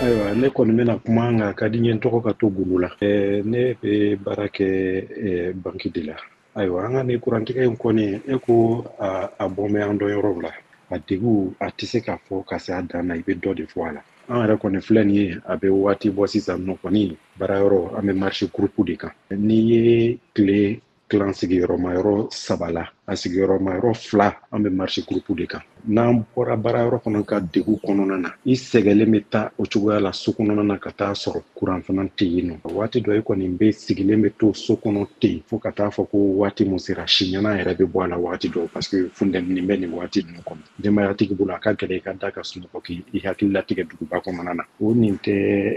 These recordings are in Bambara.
ayiwa ne kɔni bɛna kuma nka ka di n ye n tɔgɔ ka to gundo la ne bɛ baara kɛ banki de la ayiwa an ka nin kurantigɛ in kɔni e ko a bɔn bɛ an dɔn yɔrɔw la a degun a tɛ se ka fɔ ka se a dan na i bɛ dɔ de fɔ a la an yɛrɛ kɔni filɛ nin ye a bɛ waati bɔ sisan nɔ kɔni baara yɔrɔ an bɛ marisi gurupu de kan n'i ye tile tilan sigiyɔrɔma yɔrɔ saba la a sigiyɔrɔma yɔrɔ fila an bɛ marisi gurupu de kan n'an bɔra baara yɔrɔ kɔnɔ ka degun kɔnɔna na i sɛgɛlen bɛ taa o cogoya la so kɔnɔna na ka taa sɔrɔ kuran fana tɛ yen nɔ waati dɔ i kɔni bɛ sigilen bɛ to so kɔnɔ ten fo ka taa fɔ ko waati min sera siɲɛna yɛrɛ bɛ bɔ a la waati dɔw parce que funtɛni bɛ nin waati ninnu kɔnɔ denbayatigi bolo a ka gɛlɛn i ka da ka sunɔgɔ k'i hakili latigɛ duguba kɔnɔna na o nin tɛ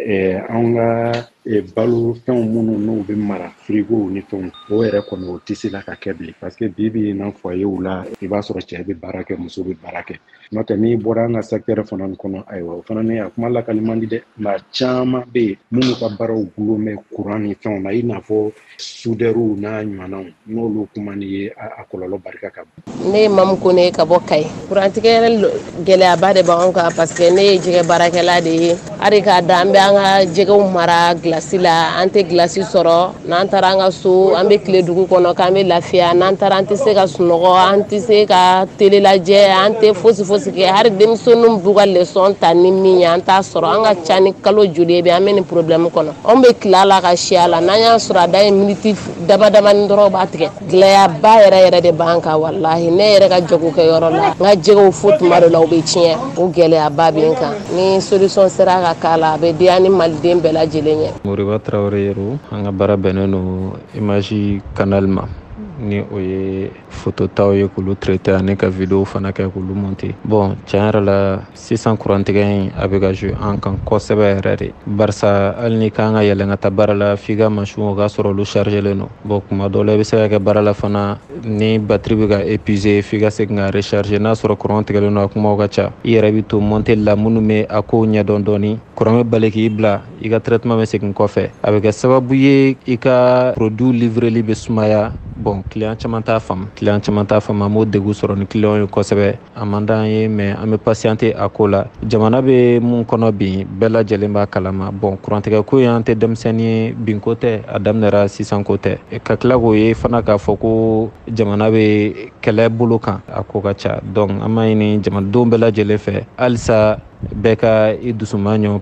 eh, anw ka e balo fɛnw minnu n'u bɛ mara firigow ni fɛnw o yɛrɛ kɔni o tɛ se la ka kɛ bilen parce que bi bi in na foyerw la i b'a sɔrɔ cɛ bɛ baara kɛ muso bɛ baara kɛ n'o tɛ n'i bɔra an ka sɛkitɛrɛ fana kɔnɔ ayiwa o fana ni a kuma lakali man di dɛ maa caman bɛ yen minnu ka baaraw dulon bɛ kuran ni fɛnw na i n'a fɔ sudɛriw n'a ɲɔgɔnnaw n'olu kuma ni ye a kɔlɔlɔ barika ka bon ne ye mamu kone ka bɔ kayi kurantigɛ gɛlɛyaba de b'an kan parce que ne ye jɛgɛ baarakɛla de ye hari k'a da an bɛ an ka jɛgɛw mara gilasi la an tɛ gilasi sɔrɔ n'an taara an ka so an bɛ tile dugu kɔnɔ k'an bɛ lafiya n'an taara an tɛ se ka sunɔgɔ an tɛ se ka tele lajɛ an tɛ fosi fosi kɛ hari denmisɛnninw b'u ka lesɔn ta ni min ye an t'a sɔrɔ a ka ca ni kalo joli ye bi an bɛ nin porobilɛmu kɔnɔ Anw bɛ tile a la ka si a la n'an y'a sɔrɔ a dan ye miniti dama damani dɔrɔn u b'a tigɛ gɛlɛyaba yɛrɛ yɛrɛ de b'an kan walahi ne yɛrɛ ka jago kɛ yɔrɔ la n ka jɛgɛw fo tuma dɔ la u bɛ tiɲɛ o gɛlɛyaba bɛ n kan ni solution sera ka k'a la a bɛ diya ni maliden bɛɛ lajɛlen ye moriba tarawele yero an ka baara bɛnnen don imazi kanali ma ni o ye foto taw ye k'olu traiter ani ka videwo fana kɛ k'olu monter bon tiɲɛ yɛrɛ la sisan kurantigɛ in a bɛ ka jouer an kan kosɛbɛ yɛrɛ de barisa hali n'i kan ka yɛlɛn ka taa baara la f'i ka mansinw o k'a sɔrɔ olu chargelen don bon kuma dɔ la i bɛ se ka kɛ baara la fana ni batiri bɛ ka épuiser f'i ka segin ka recharger n'a sɔrɔ kuran tigɛlen don a kumaw ka ca i yɛrɛ bɛ to monteli la minnu bɛ a kow ɲɛdɔn dɔɔni kuran bɛ bali k'i bila i ka traitement bɛ segin kɔfɛ a bɛ kɛ sababu ye i ka produit livreli bɛ sumaya bon client caman t'a faamu client caman t'a faamu an b'o degun sɔrɔ ni client ye kosɛbɛ a man d'an ye mɛ an bɛ pasiyante a ko la jamana bɛ mun kɔnɔ bin bɛɛ lajɛlen b'a kalama bon kurantigɛ ko in an tɛ denmisɛnnin ye binko tɛ a daminɛra sisanko tɛ ka tila k'o ye fana k'a fɔ ko jamana bɛ kɛlɛ bolo kan a ko ka ca donc an b'a ɲini jamanadenw bɛɛ lajɛlen fɛ halisa bɛɛ ka i dusuma ɲɔ